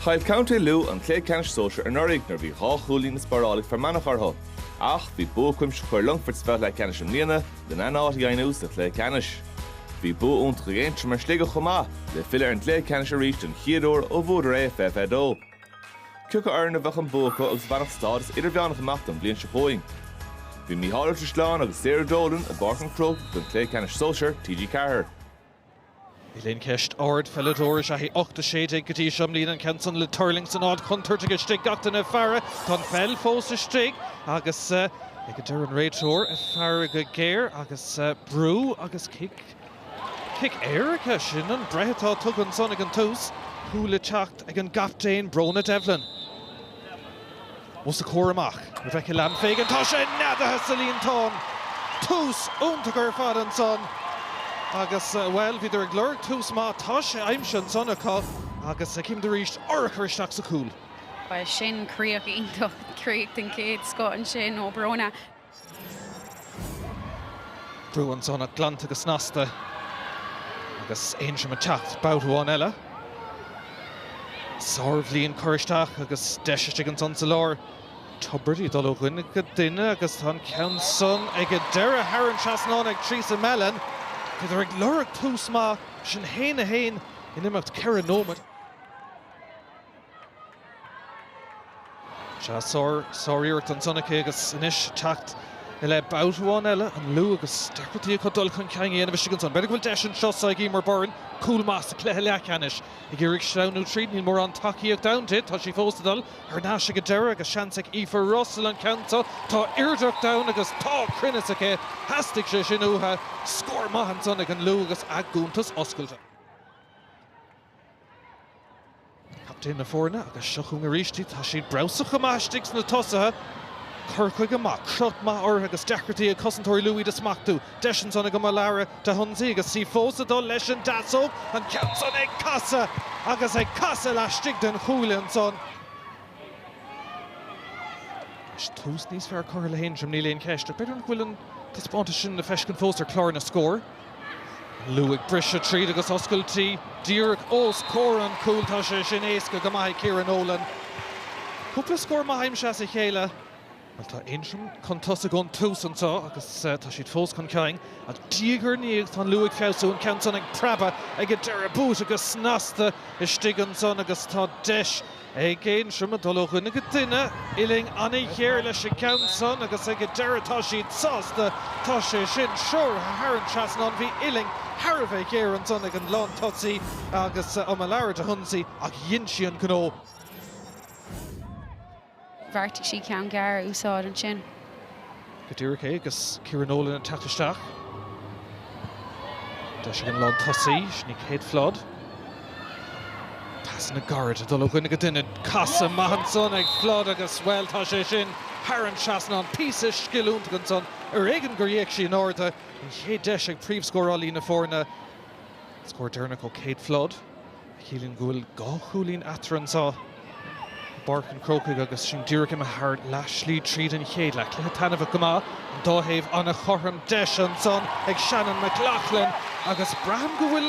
Chaill Contae Lú an cluiche ceannais sóisir anuraidh nuair a bhí dhá chúilín le spáráil ag Fear Manach orthu, ach bhí bua cuimsitheach ar Longfort sa bhabhta leathcheannais i mbliana lena n-áit a dheimhniú sa chluiche ceannais. Bhí bua iontach ag Aontroim ar Shligeach chomh maith le filleadh ar an gcluiche ceannais arís den chéad uair ó bhuadar é i 2022. Cé acu foireann a bheadh an bua acu agus a bhainfeadh stádas idirmheánach amach don bhliain seo chugainn? Bhí Mícheál Ó Drisleáin agus Sarah Dolan i bPáirc an Chrócaigh don chluiche ceannais sóisir TG4. Níl aon cheist ardpheileadóir is ea í ocht a sé déag go dtí seo i mbliana. An ceann san le tuirlingt san áit chontúirteach istigh gach duine ag faire. Tá an pheil fós istigh agus ag an deireadh an réiteoir ag faire go géar agus brú agus cic, cic éirice. Sin an bhreith atá tugtha ansan ag an tús. Cúl le teacht ag an gcaptaen, Bronagh Devlin. Os a comhair amach, Rebecca Lambe Fagan, tá sé neadaithe sa líontán! Tús iontach ar fad ansan agus, bhuel, bhíodar ag lorg tús maith, tá sé aimsithe ansan acu agus címid arís, urchar isteach sa chúl. Bhuel, sin críoch iontach, críoch den chéad scoth ansin ó Bronagh. Brú ansan ach glanta go snasta agus Aontroim ag teacht babhta amháin eile. Sárbhliain curtha isteach agus deis istigh ansan sa lár. Tiobraid í dul ó dhuine go duine agus tá an ceann san ag an deireadh thar an trasnán ag Theresa Mellon. Bhíodar ag lorg tús maith, sin 1-1 in imeacht ceithre nóiméad. Sea, sáriarracht ansan aici agus anois teacht i leith babhta amháin eile, an Lú agus deacrachtaí acu dul chun cinn a dhéanamh istigh ansan. B'fhéidir go bhfuil deis anseo sa ag Eimear Byrne, cúl maith sa chluiche leathcheannais. Ag iarraidh sleamhnú tríd, níl mórán tacaíochta ann di, tá sí fós ag dul thar n-ais ag an deireadh agus seans ag Aoife Russell an ceann seo, tá airde cheart ann agus tá cruinneas aici, theastaigh sé sin uathu. Scór maith ansan ag an Lú agus a gcuntas oscailte. Captaen na foirne agus seo chugainn arís iad. Tá siad breabhsach go maith istigh sna tosaithe. Cur chuige maith, crot maith orthu agus deacrachtaí ag cosantóirí Lú iad a smachtú. Deis ansan ag Omolara Dahunsi agus í fós ag dul leis an deasóg. An ceann san ag casadh agus ag casadh laistigh den chuaille ansan. Anois tús níos fearr curtha le hAontroim, níl aon cheist, ach b'fhéidir nach bhfuil an taispeántas sin le feiscint fós ar chlár na scór. Lú ag briseadh tríd agus oscailtí díreach os comhair an chúil. Tá sé sin éasca go maith ag Céire Nolan. Cúpla scór maith aimsithe as a chéile. Bhuel, tá Aontroim chun tosaigh ón tús anseo agus tá siad fós chun cinn. Ach diaidh ar ndiaidh tá an Lú ag feabhsú, an ceann san ag preabadh ag an deireadh. Buaite go snasta istigh ansan agus tá deis. ag Aontroim ag dul ó dhuine go duine uillinn an-ghéar leis an gceann san agus ag an deireadh tá siad sásta, tá sé sin treoraithe thar an trasnán, bhí uillinn thar a bheith géar ansan ag an lán tosaí agus Omolara Dahunsi ach dhein sí an gnó. Bheartaigh sí ceann gearr a úsáid ansin. go díreach é agus Céire Nolan ag teacht isteach. Deis ag an lán tosaí, sin í Kate Flood. Pasanna gairid ag dul ó dhuine go duine, casadh maith ansan ag Flood agus, bhuel, tá sé sin thar an trasnán. Píosa sciliúnta ansan, ar éigean gur fhéach sí in airde. An chéad deis ag príomhscórálaí na foirne, scór deireanach ó Kate Flood. a chiallaíonn go bhfuil dhá chúilín eatarthu anseo i bPáirc an Chrócaigh agus sinn díreach imithe thar leath slí tríd an chéad leath. Cluiche taitneamhach go maith, an dá thaobh an-chothrom. Deis ansan ag Shannen McLaughlin agus braithim go bhfuil,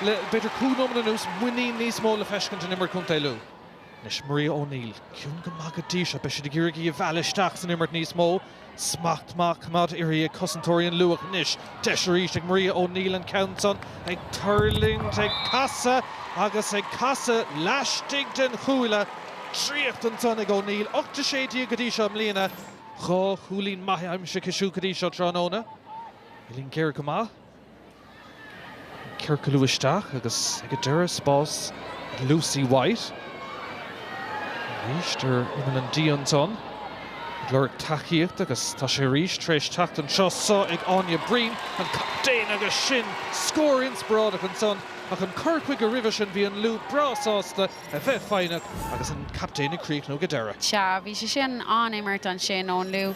le b'fhéidir cúig nóiméad anuas, muinín níos mó le feiscint in imirt Chontae Lú. Anois Maria O'Neill. Ciúin go maith go dtí seo. Beidh siad ag iarraidh í a mhealladh isteach san imirt níos mó. Smacht maith á choimeád uirthi ag cosantóirí an Lú ach anois deis arís ag Maria O'Neill an ceann san ag tuirlingt, ag casadh agus ag casadh laistigh den chuaille. Draíocht ansan ag O'Neill. Ocht 16 di go dtí seo i mbliana. Dhá chúilín maithe aimsithe aici siúd go dtí seo tráthnóna. Uillinn géar go maith. ciorcalú isteach agus ag an deireadh spás ag Lucy White. Arís ar imeall an D ansan ag lorg tacaíocht agus tá sé arís tar éis teacht anseo so ag Áine Breen, an captaen, agus sin scór inspioráideach ansan ach an cur chuige roimhe sin bhí an Lú breá sásta a bheith foighneach agus an captaen ag críochnú go deireadh. Sea, bhí sé sin an-imirt ansin ón Lú.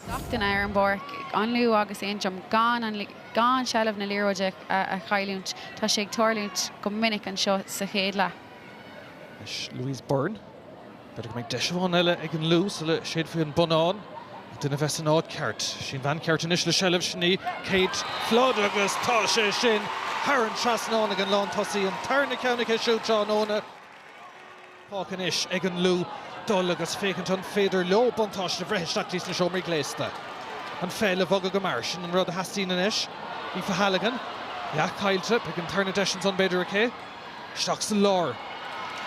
Gach éinne ar an bpáirc, an Lú agus Aontroim gan an gan seilbh na liathróide a chailliúint. Tá sé ag tarlúint go minic anseo sa chéad leath. Anois Louise Byrne. B'fhéidir go mbeidh deis amháin eile ag an Lú sula séidfí an bonnán. Ach duine a bheith san áit ceart. Sí an bhean cheart anois le seilbh, sin í Kate Flood agus tá sé sin thar an trasnán ag an lán tosaí. An tarna ceann aici siúd tráthnóna. fágtha anois ag an Lú dul agus féachaint an féidir leo buntáiste a bhreith isteach dtí sna seomraí gléasta. An pheil a bhogadh go mear, sin an rud a theastaíonn anois. Aoife Halligan, leath caillte, beidh an tarna deis ansan b'fhéidir aici. Isteach sa lár.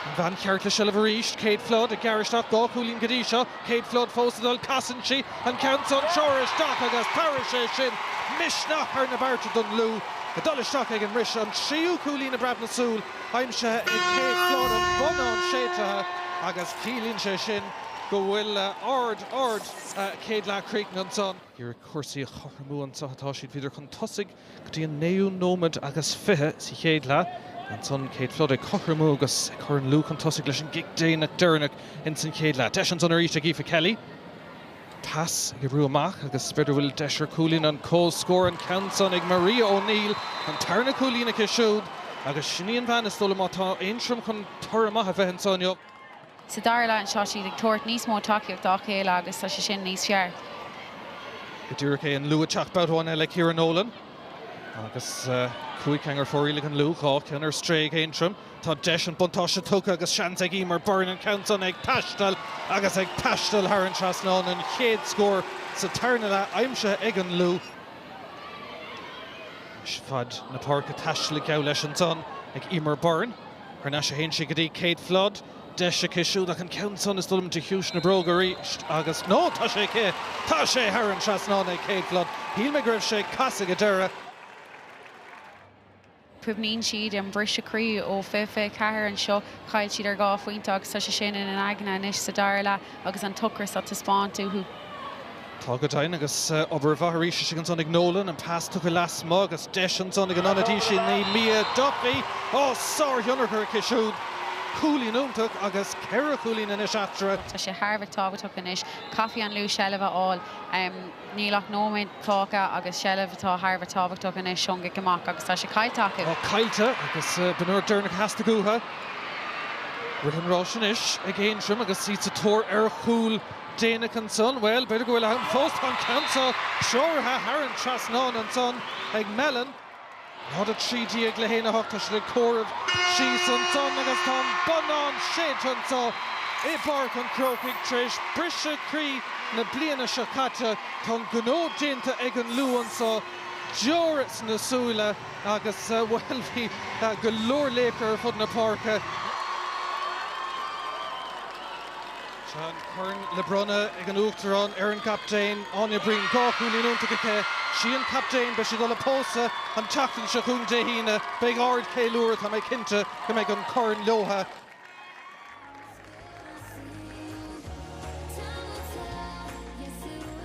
An bhean cheart le seilbh arís, Kate Flood, ag gearradh isteach, dhá chúilín go dtí seo, Kate Flood fós ag dul, casann sí, an ceann san treoraithe isteach agus tabharfaidh sé sin misneach thar na bearta don Lú ag dul isteach ag an mbriseadh, an tríú cúilín i bpreab na súl. aimsithe ag Kate Flood an bonnán séidtithe agus ciallaíonn sé sin go bhfuil ard ard-chéad leath críochnaithe anseo. Iarraidh cúrsaí a chothromú anseo atá siad, bhíodar chun tosaigh go dtí an naoú nóiméad agus fiche sa chéad leath. Ansan Kate Flood ag cothromú agus ag cur an Lú chun tosaigh leis an gcic déanach deireanach ins an chéad leath. Deis ansan arís ag Aoife Kelly. Tá sí ag brú amach agus b'fhéidir go bhfuil deis ar chúilín an comhscór an ceann san ag Maria O'Neill, an tarna cúilín aici siúd agus sin í an bhean is dóigh liom má tá Aontroim chun toradh maith a bheith anseo inniu. Sa dara leath anseo siad ag tabhairt níos mó tacaíocht dá chéile agus tá sé sin níos fearr. Go díreach é an Lú ag teacht babhta amháin eile Céire Nolan agus cúig cheann ar fóraoil ag an Lú, dhá cheann ar strae ag Aontroim. Tá deis an buntáiste tugtha agus seans ag Eimear Byrne an ceann san ag taisteal agus ag taisteal thar an trasnán, an chéad scór sa tarna leath aimsithe ag an Lú. Anois faid na páirce taistealaithe geall leis ansan ag Eimear Byrne. Thar n-ais a théann sí go dtí Kate Flood. Deis aici siúd ach an ceann san is dóigh liom de chiumhais na bróige arís agus, no, tá sé aici! Tá sé thar an trasnán ag Kate Flood. Shíl mé go raibh sé ag casadh ag an deireadh. Cuimhníonn siad an briseadh croí ó fiche fiche ceathair anseo. Chaill siad ar dhá phointe agus tá sé sin ina n-aigne anois sa dara leath agus an t-ocras á taispeáint uathu. Tá go deimhin agus obair mhaith arís istigh ansan ag Nolan. An pas tugtha lasmuigh agus deis ansan ag an ionadaí sin í Mia Duffy. Ó, sárthionchar aici siúd. Cúilín iontach agus ceithre chúilín anois eatarthu. Tá sé thar a bheith tábhachtach anois. Caithfidh an Lú seilbh a fháil. Níl ach nóiméad fágtha agus seilbh atá thar a bheith tábhachtach anois ón gcic amach agus tá sé caillte acu. Tá caillte agus b'in é an rud deireanach a theastaigh uathu. Rith an ráis anois ag Aontroim agus iad sa tóir ar chúl déanach ansan. Bhuel, b'fhéidir go bhfuil am fós. Tá an ceann seo treoraithe thar an trasnán ansan ag Mellon. Náid a trí déag le haon a hocht, tá siad ag comhaireamh síos ansan agus tá an bonnán séidte anseo i bPáirc an Chrócaigh tar éis briseadh croí na bliana seo caite. Tá an gnó déanta ag an Lú anseo, deora sna súile agus, bhuel, bhí go leor laochra ar fud na páirce. Tá an corn le bronnadh ag an Uachtarán ar an gcaptaen, Áine Breen. Dhá chúilín iontach aici. 'Sí an captaen. Beidh sí dul a' pósadh an tseachtain seo chugainn Dé hAoine. Beidh ardcheiliúradh, tá mé cinnte go mbeidh an corn leobhtha. Still a scene, time will tell, yes it will.